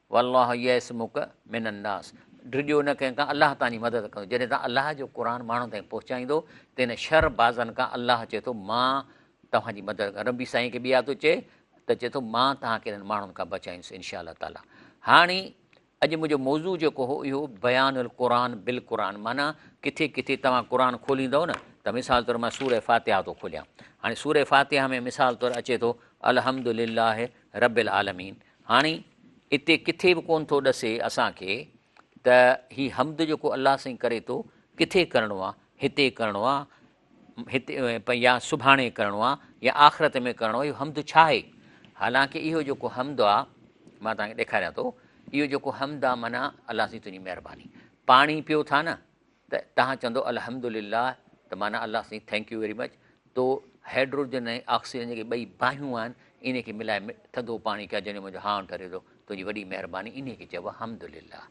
والله يعصمک من الناس ڊڄو نه ڪنهن کان الله توهان جي مدد ڪندو جڏهن توهان الله جو قرآن ماڻهن تائين پهچائيندو تن شر بازن کان الله چئي ٿو مان توهان جي مدد ڪران ربي سائين کي ٻيا ٿو چئي ته چئي ٿو مان توهان کي انهن ماڻهن کان بچائيندس انشاء الله تعاليٰ هاڻي اڄ منهنجو موضوع جيڪو هو اهو بيان القرآن بالقرآن معنی ڪٿي ڪٿي توهان قرآن کوليندو نه ته مثال طور مان سورة فاتحه ٿو کوليان هاڻي سورة فاتحه ۾ مثال طور اچي ٿو الحمد لله رب العالمين هاڻي اتي ڪٿي به ڪون ٿو ڏسي اسان کي ته هي حمد جيڪو الله سائين ڪري ٿو ڪٿي ڪرڻو آ هتي ڪرڻو آ هتي يا سڀاڻي ڪرڻو آ يا آخرت ۾ ڪرڻو اهو حمد ڇا آهي حالانڪه اهو جيڪو حمد آ مان توهان کي ڏيکاريان ٿو اهو جيڪو حمد آ معنيٰ الله سائين تنهنجي مهرباني پاڻي پيو ٿا نه ته تهان چوندو الحمد لله ته معنيٰ الله سائين ٿينڪ يو ويري مچ تو هيڊروجن ۽ آڪسيجن جيڪي ٻئي باهيون آهن انهي کي ملائي ٿڌو پاڻي ڪيا جنهن جو منهنجو هانء ٺري ٿو تنهنجي وڏي مهرباني انهي کي چئبو آهي حمد لله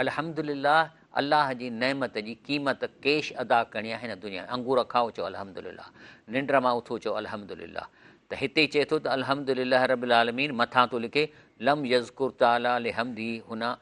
الحمد لله الله جي نعمت جي قيمت ڪيش ادا ڪرڻي آهي هن دنيا ۾ انگور کائو چئو الحمد لله ننڊ مان اٿو چئو الحمد لله ته هتي چئي ٿو ته الحمد لله رب العالمين مٿان ٿو لکي لم يذڪر تعالٰي لحمده هنا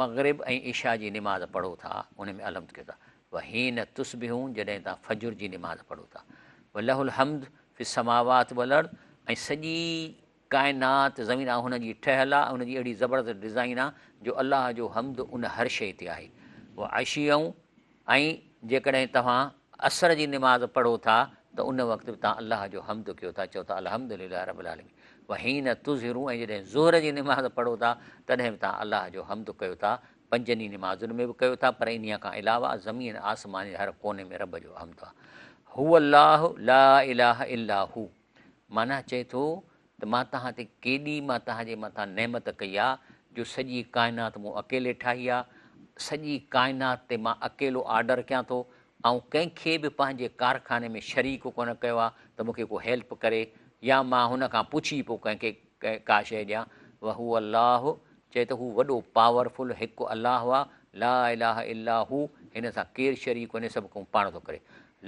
مغرب ۽ عشاء جي نماز پڙهو ٿا ان ۾ الحمد ڪيو ٿا وحين تصبحون جڏهن توهان فجر جي نماز پڙهو ٿا وله الحمد في السماوات والارض ۽ سڄي ڪائنات زمين آ هن جي ٺهيل آ ان جي اهڙي زبردست ڊزائين آ جو الله جو حمد ان هر شيء تي آهي وعشيون ۽ جيڪڏهن توهان عصر جي نماز پڙهو ٿا ته ان وقت به توهان الله جو حمد ڪيو ٿا، چئو ٿا الحمد لله رب العالمين وحين تظهرون ۽ جڏهن ظهر جي نماز پڙهو ٿا تڏهن به توهان الله جو حمد ڪيو ٿا، پنجن ئي نمازن ۾ به ڪيو ٿا پر انهيء کان علاوه زمين آسمان جي هر ڪوني ۾ رب جو حمد آهي. هو الله لا اله الا هو. معنيٰ چئي ٿو ته مان توهان تي ڪيڏي مان توهان جي مٿان نعمت ڪئي آ جو سڄي ڪائنات مون اڪيلي ٺاهي آ. سڄي ڪائنات تي مان اڪيلو آرڊر ڪيان ٿو. آئون ڪنهن کي به پنهنجي ڪارخاني ۾ شريڪ ڪونه ڪيو آ ته مون کي ڪو هيلپ ڪري يا مان هن کان پڇي پوء ڪنهن کي ڪا شيء ڏيان. وهو الله چئي ته هو وڏو پاور فل هڪ الله آ لا اله الا هو هن سان ڪير شريڪ ڪونهي سڀ ڪم پاڻ ٿو ڪري.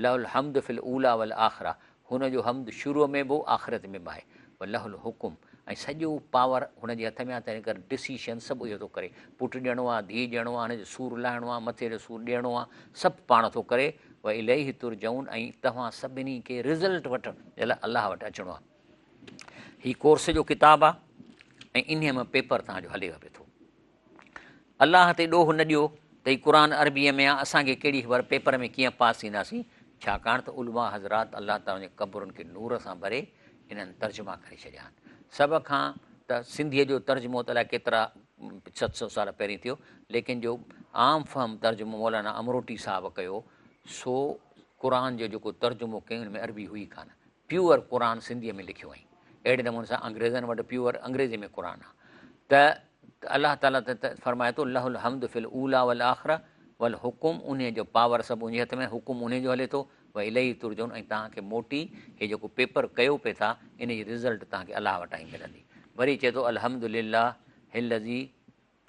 له الحمد في الاولي والآخره هن جو حمد شروع ۾ به هو آخرت ۾ به آهي ولهه الحڪم ۽ سڄو پاور هن جي هٿ ۾ آهي تنهن ڪري ڊسيشن سڀ اهو ٿو ڪري پٽ ڏيڻو آهي ڌيء ڏيڻو آهي هن جو سور لاهڻو آهي مٿي جو سور ڏيڻو آهي سڀ پاڻ ٿو ڪري و اليه ترجعون ۽ توهان سڀني کي رزلٽ وٺڻ جي لاء الله وٽ اچڻو آهي هي ڪورس جو ڪتاب آهي ۽ انهي ۾ پيپر تهان جو هليو پيو ٿو الله تي ڏوهه نه ڏيو ته هي قرآن عربيء ۾ آ، اسان کي ڪهڙي خبر پيپر ۾ ڪيئن پاس ٿينداسين، ڇاڪاڻ ته علماء حضرات الله تعاليٰ جي قبرن کي نور سان ڀري انهن ترجما ڪري ڇڏيا آهن. سڀ کان ته سنڌيء جو ترجمو ته الائي ڪيترا ست سؤ سال پهرين ٿيو، ليڪن جو عام فهم ترجمو مولانا امروٽي صاحب ڪيو، سو قرآن جو جيڪو ترجمو ڪيائون ان ۾ عربي هئي ڪانه، پيور قرآن سنڌيء ۾ لکيو هئائين. اهڙي نموني سان انگريزن وٽ پيور انگريزيء ۾ قرآن آهي ته الله تعاليٰ ته فرمائي ٿو لهو الحمد في الاوليٰ والآخرة والحڪم انهيء جو پاور سڀ انهيء هٿ ۾ حڪم انهيء جو هلي ٿو واليه ترجعون ۽ توهان کي موٽي هي جيڪو پيپر ڪيو پئي ٿا ان جي رزلٽ توهان کي الله وٽان ئي ملندي وري چئي ٿو الحمد لله الذي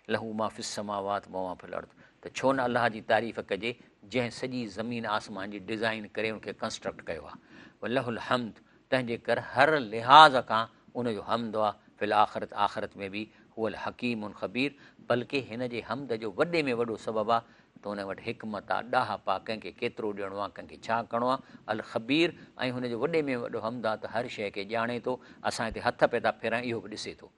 لهو ما في السماوات وما في الارض ته ڇو نه الله جي تعريف ڪجي جنهن سڄي زمين آسمان جي ڊزائين ڪري ان کي ڪنسٽرڪٽ ڪيو آهي ولهه الحمد تنهن جي ڪر هر لحاظ کان ان جو حمد آهي في الاخرت آخرت ۾ به هو الحڪيم الخبير بلڪه هن جي حمد جو وڏي ۾ وڏو سبب آهي ته هن وٽ حڪمت آهي ڏاهپ آهي ڪنهن کي ڪيترو ڏيڻو آهي ڪنهن کي ڇا ڪرڻو آهي الخبير ۽ هن جو وڏي ۾ وڏو حمد آهي ته هر شيء کي ڄاڻي ٿو اسان هتي هٿ پئي ٿا ڦيرائين اهو به ڏسي ٿو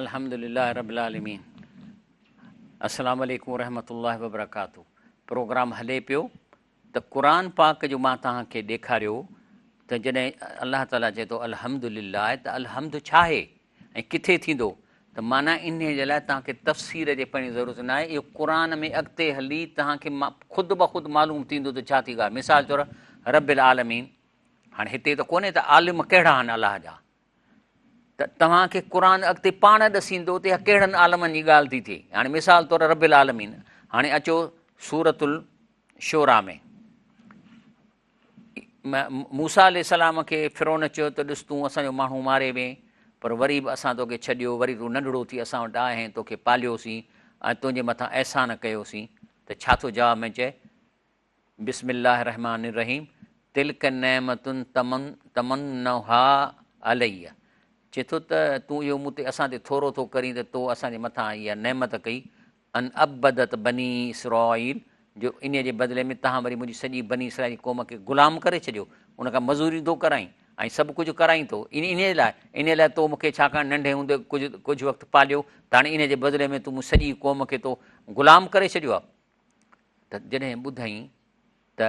الحمد لله رب العالمين السلام عليڪم ورحمة الله وبرڪاته پروگرام هلي پيو ته قرآن پاڪ جو مان توهان کي ڏيکاريو ته جڏهن الله تعاليٰ چئي ٿو الحمد لله ته الحمد ڇا آهي ۽ ڪٿي ٿيندو ته معنيٰ انهيء جي لاء توهان کي تفسير جي پڙهڻ جي ضرورت نه آهي، اهو قرآن ۾ اڳتي هلي توهان کي خود بخود معلوم ٿيندو ته ڇا ٿي ڳالهه، مثال طور رب العالمين، هاڻي هتي ته ڪونهي ته عالم ڪهڙا آهن الله جا، ته توهان کي قرآن اڳتي پاڻ ڏسيندو ته اها ڪهڙن عالمن جي ڳالهه ٿي ٿئي، هاڻي مثال طور رب العالمين، هاڻي اچو سورة الشعراء ۾. موسيٰ عليه السلام کي فرعون چيو ته ڏس تون اسان جو ماڻهو ماري وئين پر وري به اسان توکي ڇڏيو، وري تون ننڍڙو ٿي اسان وٽ آئين، توکي پاليوسين ۽ تنهنجي مٿان احسان ڪيوسين ته ڇا ٿو جواب ۾ چئي، بسم الله الرحمٰن الرحيم، تلک نعمت تمنها علي چئي ٿو ته تون اهو مون تي اسان تي ٿورو ٿو ڪرين ته تو اسان جي مٿان اها نعمت ڪئي ان عبدت بني اسرائيل جو انهيء جي بدلي ۾ توهان وري منهنجي سڄي بني اسرائيل قوم کي غلام ڪري ڇڏيو، ان کان مزوري ٿو ڪرائين ۽ سڀ ڪجهه ڪرائين ٿو، انهيء لاء، انهيء لاء تو مون کي ڇاڪاڻ ننڍي هوندي ڪجهه وقت پاليو ته هاڻي انهيء جي بدلي ۾ تون منهنجي سڄي قوم کي تو غلام ڪري ڇڏيو آهي. ته جڏهن ٻڌئين ته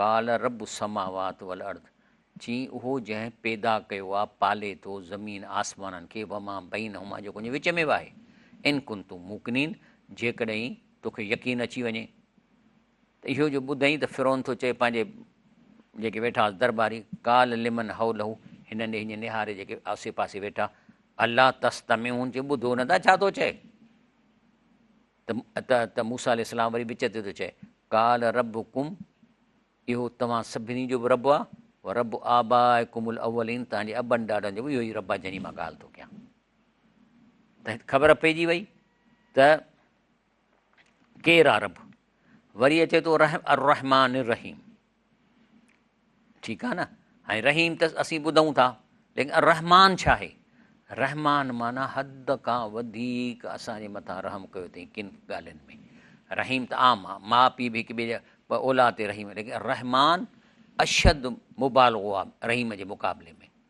قال رب السماوات والارض، چيائين اهو جنهن پيدا ڪيو آهي، پالي ٿو، زمين آسمانن کي، وما بينهما جيڪو ان جي وچ ۾ به آهي، ان ڪنتم موقنين جيڪڏهن توکي يقين اچي وڃي ته اهو جو ٻڌئين ته فرعون ٿو چئي پنهنجي جيڪي ويٺا هئس درباري، قال لمن حوله هن ڏي هينئن نهاري جيڪي آسي پاسي ويٺا، الا تستمعون چي ٻڌو نه ٿا ڇا ٿو چئي. ته ته موسيٰ عليه السلام وري وچ تي ٿو چئي، قال ربڪم اهو توهان سڀني جو به رب آ، ورب آبائکم الاولين توهان جي ابن ڏاڏن جو به اهو ئي رب آ جنهن جي مان ڳالهه ٿو ڪيان. ته هت خبر پئجي وئي ته ڪير آ رب. وري اچي ٿو الرحمٰن الرحيم. ٺيڪ آهي نه ۽ رحيم ته اسين ٻڌون ٿا ليڪن الرحمان ڇا آهي رحمان معنی حد کان وڌيڪ اسان جي مٿان رحم ڪيو اٿئي ڪن ڳالهين ۾ رحيم ته عام آهي ماء پيء به هڪ ٻئي جا اولاد تي رحيم ليڪن رحمان اشد مبالغو آهي رحيم جي مقابلي ۾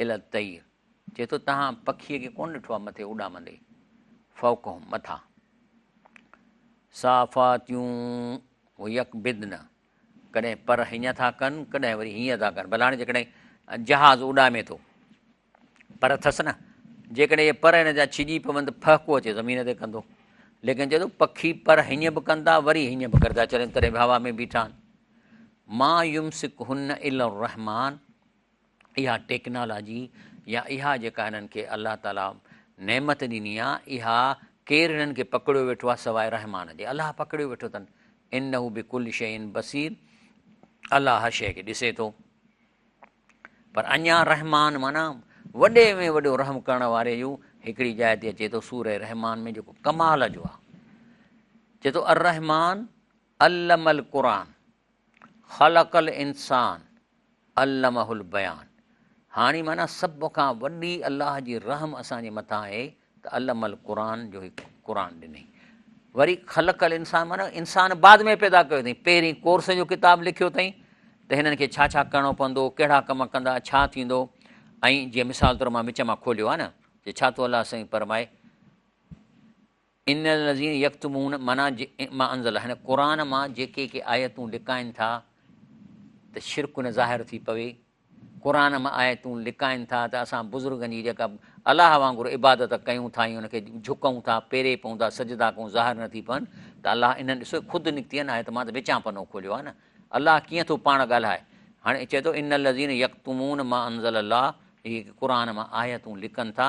الى الطير چئي ٿو تهان پکيء کي ڪونه ڏٺو آهي مٿي اڏامندي فوقهم مٿان صافاتيون و يقبضن ڪڏهن پر هيئن ٿا ڪن ڪڏهن وري هيئن ٿا ڪن بلاڻي جيڪڏهن جهاز اڏامي ٿو پر اٿس نه جيڪڏهن اهي پر هن جا ڇڄي پون ته ڦهڪو اچي زمين تي ڪندو ليڪن چوي ٿو پکي پر هيئن به ڪن ٿا وري هيئن به ڪردا چرن تڏهن به هوا ۾ بيٺا آهن ما يمسڪ هن الا الرحمان اها ٽيڪنالاجي يا اها جيڪا هنن کي الله تعالي نعمت ڏني آ اها ڪير هنن کي پڪڙيو ويٺو آ سواء رحمان جي الله پڪڙيو ويٺو تن انه بڪل شيء بصير الله هر شيء کي ڏسي ٿو پر اڃا رحمان معنی وڏي ۾ وڏو رحم ڪرڻ واري جو هڪڙي جاء تي اچي ٿو سور رحمان ۾ جيڪو ڪمال جو آ چي ٿو الرحمان علم القرآن خلق الانسان علمه البيان هاڻي معنيٰ سڀ کان وڏي الله جي رحم اسان جي مٿان آهي ته علم القرآن جو هي قرآن ڏنئي وري خلق الانسان معنيٰ انسان بعد ۾ پيدا ڪيو اٿئي پهرين ڪورس جو کتاب لکيو اٿئي ته هنن کي ڇا ڇا ڪرڻو پوندو ڪهڙا ڪم ڪندا ڇا ٿيندو ۽ جيئن مثال طور مان وچ مان کوليو آهي نه جي ڇا ٿو الله سائين فرمائي ان الذين يڪتمون معنيٰ ما انزل هن قرآن مان جيڪي ڪي آيتون لڪائين ٿا ته شرڪ نه ظاهر ٿي پوي قرآن مان آيتون لڪائين ٿا ته اسان بزرگن جي جيڪا الله وانگر عبادت ڪيون ٿا ۽ ان کي جهڪون ٿا پيري پون ٿا سجدا ڪون ظاهر نه ٿي پون ته الله انهن ڏسو خود نڪتي آهن آيت مان ته وچان پنو کوليو آهي نه الله ڪيئن ٿو پاڻ ڳالهائي هاڻي چئي ٿو ان الذين يڪتمون ما انزل الله جيڪي قرآن مان آيتون لڪن ٿا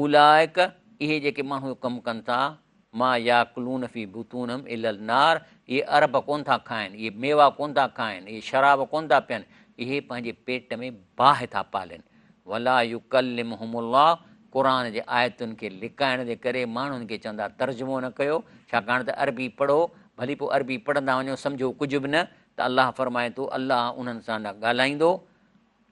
اولئڪ، اهي جيڪي ماڻهو اهو ڪم ڪن ٿا، ما ياڪلون في بطونهم الا النار، اهي عرب ڪونه ٿا کائن، اهي ميوا ڪونه ٿا کائن، اهي شراب ڪونه ٿا پين، اهي پنهنجي پيٽ ۾ باهه ٿا پالين. ولا يڪلمهم الله، قرآن جي آيتن کي لڪائڻ جي ڪري ماڻهن کي چون ٿا ترجمو نه ڪيو، ڇاڪاڻ ته عربي پڙهو، ڀلي پوء عربي پڙهندا وڃو سمجهو ڪجهه به نه ته الله فرمائي ٿو الله انهن سان نه ڳالهائيندو،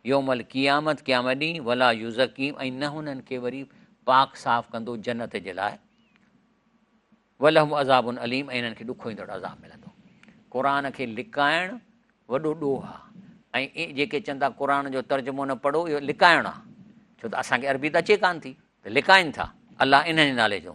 يوم القيامت، قيامت ڏينهن، ولا يزڪيهم ۽ نه هنن کي وري پاڪ صاف ڪندو جنت جي لاء، ولهم عذاب عليم ۽ هنن کي ڏکو ايندڙ عذاب ملندو. قرآن کي لڪائڻ وڏو ڏوهه آ ۽ جيڪي چون ٿا قرآن جو ترجمو نه پڙهو اهو لڪائڻ آ ڇو ته اسان کي عربي ته اچي ڪانه ٿي ته لڪائن ٿا الله انهن جي نالي جو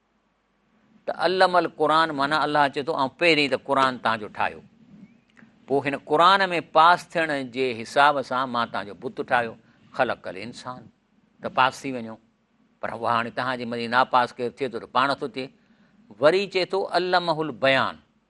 ته علم القرآن معنيٰ الله اچي ٿو آئون پهرين ته قرآن تان جو ٺاهيو پوء هن قرآن ۾ پاس ٿيڻ جي حساب سان مان تان جو بت ٺاهيو خلق ڪل انسان ته پاس ٿي وڃو پر اها هاڻي تهان جي مدي ناپاس ڪير ٿئي ٿو ته پاڻ ٿو ٿئي وري چي ٿو علم البيان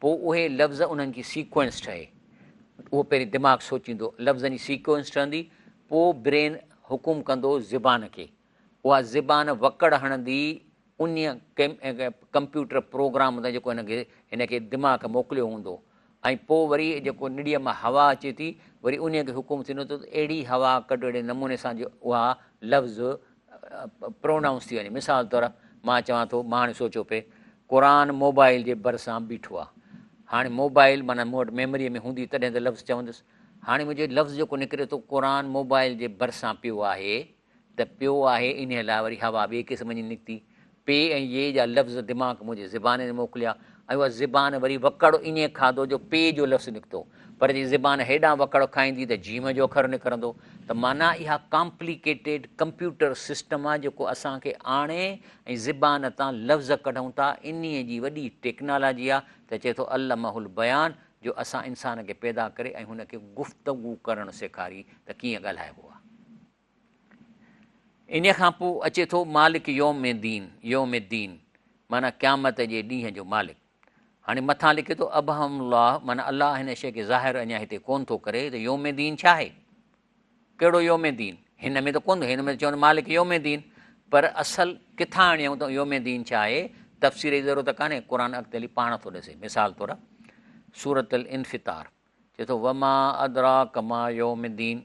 پوء اهي لفظ انهن جي سيڪوئنس ٺهي. اهو پهرين دماغ سوچيندو، لفظن جي سيڪوئنس ٺهندي، پوء برين حڪم ڪندو زبان کي. اها زبان وڪڙ هڻندي انهيء ڪمپيوٽر پروگرام تان جيڪو هن کي هن کي دماغ کي موڪليو هوندو ۽ پوء وري جيڪو نڙيء مان هوا اچي ٿي، وري انهيء کي حڪم ٿيندو ته اهڙي هوا ڪڍ اهڙي نموني سان جو اها لفظ پرونائونس ٿي وڃي مثال طور مان چوان ٿو مان هاڻي سوچيو پئي قرآن موبائل جي ڀرسان بيٺو آ هاڻي موبائل مانا مون وٽ ميموريء ۾ هوندي تڏهن ته لفظ چوندس هاڻي منهنجو لفظ جيڪو نڪري ٿو قرآن موبائل جي ڀرسان پيو آهي ته پيو آهي انهيء لاء وري هوا ٻئي قسم جي نڪتي پي ۽ يي جا لفظ دماغ منهنجي زبان ۾ موڪليا ۽ اها زبان وري وڪڙ ائين کاڌو جو پي جو لفظ نڪتو. پر جي زبان هيڏانهن وڪڙ کائيندي ته جيم جو اکر نڪرندو. ته معنيٰ اها ڪامپليڪيٽيڊ ڪمپيوٽر سسٽم آهي جيڪو اسان کي آڻي ۽ زبان تان لفظ ڪڍون ٿا انهي جي وڏي ٽيڪنالاجي آهي ته چئي ٿو علمه البيان جو اسان انسان کي پيدا ڪري ۽ هن کي گفتگو ڪرڻ سيکاري ته ڪيئن ڳالهائبو آهي. انهيء کان پوء اچي ٿو مالڪ يوم دين، يوم الدين، معنيٰ قيامت جي ڏينهن جو مالڪ. هاڻي مٿان لکي ٿو ابهم الله معنيٰ الله هن شيء کي ظاهر اڃا هتي ڪونه ٿو ڪري ته يوم دين ڇا آهي؟ ڪهڙو يوم دين؟ هن ۾ ته ڪونه ٿو هن ۾ ته چون مالڪ يوم دين پر اصل ڪٿان آڻيائون ته يوم دين ڇا آهي؟ تفسير جي ضرورت ڪانهي قرآن اڳتي هلي پاڻ ٿو ڏسي مثال طور سورة الانفطار چي ٿو وما ادراڪ ما يوم الدين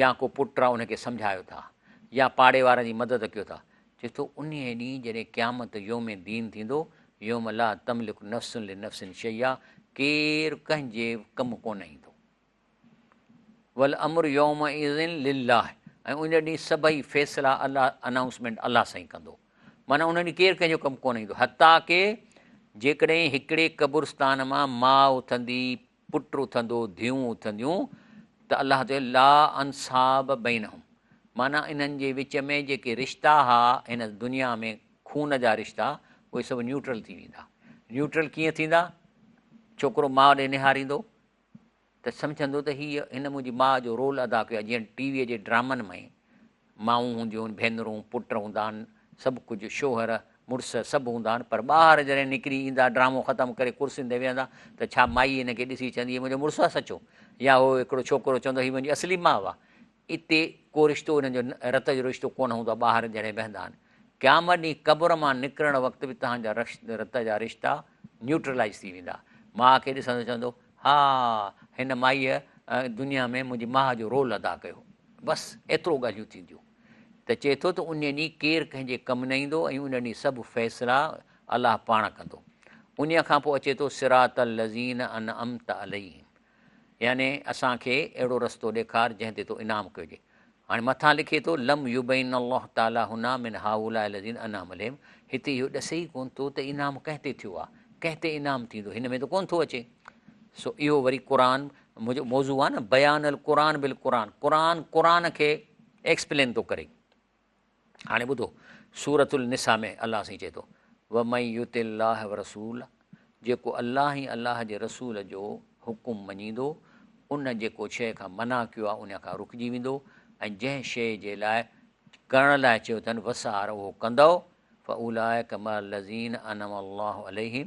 يا ڪو پٽ آ ان کي سمجهايو ٿا يا پاڙي وارن جي مدد ڪيو ٿا، چي ٿو انهيء ڏينهن جڏهن قيامت يوم دين ٿيندو، يوم لا تملڪ نفس لنفس شيئا، ڪير ڪنهن جي ڪم ڪونه ايندو. والامر يومئذ لله ۽ ان ڏينهن سڀئي فيصلا الله انائونسمينٽ الله سائين ڪندو معنيٰ ان ڏينهن ڪير ڪنهن جو ڪم ڪونه ايندو حتيٰ ڪي جيڪڏهن هڪڙي قبرستان مان ماء اٿندي پٽ اٿندو، ڌيئون اٿنديون ته الله چيو لا انصاب بينهم معنيٰ انهن جي وچ ۾ جيڪي رشتا ها هن دنيا ۾ خون جا رشتا اهي سڀ نيوٽرل ٿي ويندا. نيوٽرل ڪيئن ٿيندا؟ ڇوڪرو ماء ڏي نهاريندو ته سمجهندو ته هي هن منهنجي ماء جو رول ادا ڪيو آهي جيئن ٽي ويء جي ڊرامن ۾ مائون هونديون آهن، ڀينرون، پٽ هوندا آهن، سڀ ڪجهه، شوهر، مڙس سڀ هوندا آهن پر ٻاهر جڏهن نڪري ايندا، ڊرامو ختم ڪري ڪرسين تي ويهندا ته ڇا مائي هن کي ڏسي چوندي هي منهنجو مڙس آهي سچو يا هو هڪڙو ڇوڪرو چوندو هي منهنجي اصلي ماء آهي. اتي ڪو رشتو هنن جو رت جو رشتو ڪونه هوندو آهي ٻاهر جڏهن ويهندا آهن. قيامت ڏينهن قبر مان نڪرڻ وقت به توهان جا رت جا رشتا نيوٽرلائيز ٿي ويندا. ماء کي ڏسندو چوندو ها هن مائيء دنيا ۾ منهنجي ماء جو رول ادا ڪيو. بس ايترو ڳالهيون ٿينديون ته چئي ٿو ته انهيء ڏينهن ڪير ڪنهن جي ڪم نه ايندو ۽ ان ڏينهن سڀ فيصلا الله پاڻ ڪندو. انهيء کان پوء اچي ٿو صراط الذين انعمت عليهم يعني اسان کي اهڙو رستو ڏيکار جنهن تي تو انعام ڪيو جي هاڻي مٿان لکي ٿو، لم يبين الله تعاليٰ هنا من هؤلاء الذين انعم عليهم هتي اهو ڏسي ئي ڪونه ٿو ته انعام ڪنهن تي ٿيو آهي، ڪنهن تي انعام ٿيندو هن ۾ ته ڪونه ٿو اچي. سو اهو وري قرآن منهنجو موضوع آهي نه بيان القرآن بالقرآن قرآن قرآن کي ايڪسپلين ٿو ڪري. هاڻي ٻڌو سورة النساء ۾ الله سائين چئي ٿو ومن يطع الله ورسوله جيڪو الله ۽ الله جي رسول جو حڪم مڃيندو ان جيڪو شيء کان منع ڪيو آهي ان کان رڪجي ويندو ۽ جنهن شيء جي لاء ڪرڻ لاء چيو اٿن وسار اهو ڪندو فاولائڪ مع الذين انعم الله عليهم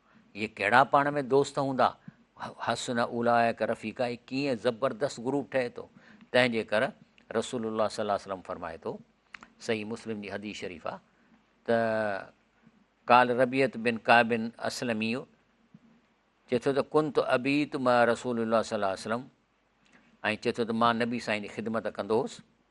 اهي ڪهڙا پاڻ ۾ دوست هوندا؟ حسن اولئک رفيقا هي ڪيئن زبردست گروپ ٺهي ٿو. تنهن جي ڪر رسول الله صلي الله عليه وسلم فرمائي ٿو، صحيح مسلم جي حديث شريف آ ته قال ربيعت بن ڪعب اسلمي چي ٿو ته ڪنت ابيت مع رسول الله صلي الله عليه وسلم ۽ چي ٿو ته مان نبي سائين جي خدمت ڪندو هوس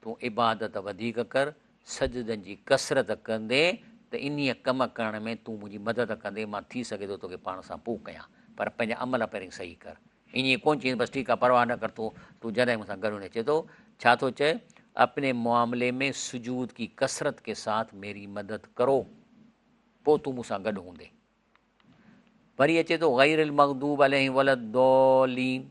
تون عبادت وڌيڪ ڪر، سجدن جي ڪثرت ڪندي ته انهيء ڪم ڪرڻ ۾ تون منهنجي مدد ڪندين، مان ٿي سگهي ٿو توکي پاڻ سان پوء ڪيان، پر پنهنجا عمل پهرين صحيح ڪر. ائين ڪونه چئينس، بس ٺيڪ آهي، پرواهه نه ڪر، تون تون جڏهن مون سان گڏ هوندين. چئي ٿو، ڇا ٿو چئي، اپني معاملي ۾ سجود ڪي ڪثرت ڪي ساٿ ميري مدد ڪرو، پوء تون مون سان گڏ هوندين. وري اچي ٿو، غير المغضوب عليهم ولا الضالين.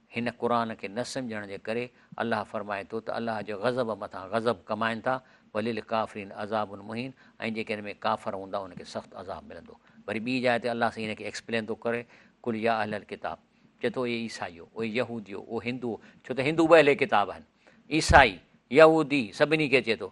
هن قرآن کي نه سمجهڻ جي ڪري الله فرمائي ٿو ته الله جي غضب مٿان غضب ڪمائن ٿا، وللڪافرين عذاب مهين ۽ جيڪي ان ۾ ڪافر هوندا انهن کي سخت عذاب ملندو. وري ٻي جاء تي الله سائين ان کي ايڪسپلين ٿو ڪري، قل يا اهل الڪتاب، چئي ٿو اي عيسائيو، اي يهوديو، او هندوؤ، ڇو ته هندو به اهل ڪتاب آهن، عيسائي، يهودي سڀني کي چئي ٿو،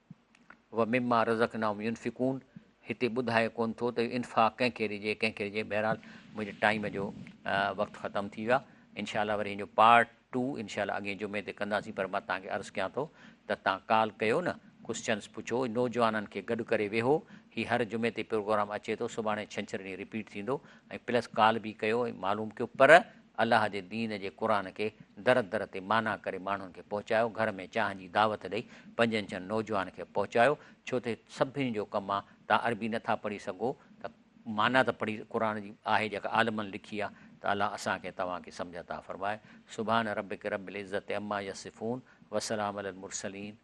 ومما رزقناهم ينفقون هتي ٻڌائي ڪون ٿو ته انفاق ڪنهن کي ڏجي ڪنهن کي ڏجي بهرحال منهنجي ٽائيم جو وقت ختم ٿي ويا انشاء الله وري ان جو پارٽ ٽو انشاء الله اڳين جمعي تي ڪنداسين پر مان تان کي عرض ڪيان ٿو ته تان ڪال ڪيو نه ڪوسچنس پڇو نوجوانن کي گڏ ڪري ويهو هي هر جمعي تي پروگرام اچي ٿو سڀاڻي ڇنڇر ڏينهن رپيٽ ٿيندو ۽ پلس ڪال به ڪيو ۽ معلوم ڪيو پر الله جي دين جي قرآن کي در در تي معنيٰ ڪري ماڻهن کي پهچايو، گهر ۾ چانهه جي دعوت ڏئي پنجن ڇهن نوجوان کي پهچايو، ڇو ته سڀني جو ڪم آ، توهان عربي نه ٿا پڙهي سگهو ته معنيٰ ته پڙهي قرآن جي آهي جيڪا عالمن لکي آ ته الله اسان کي ۽ توهان کي سمجهه عطا فرمائي، سبحان ربک رب العزة عما يصفون وسلام علي المرسلين.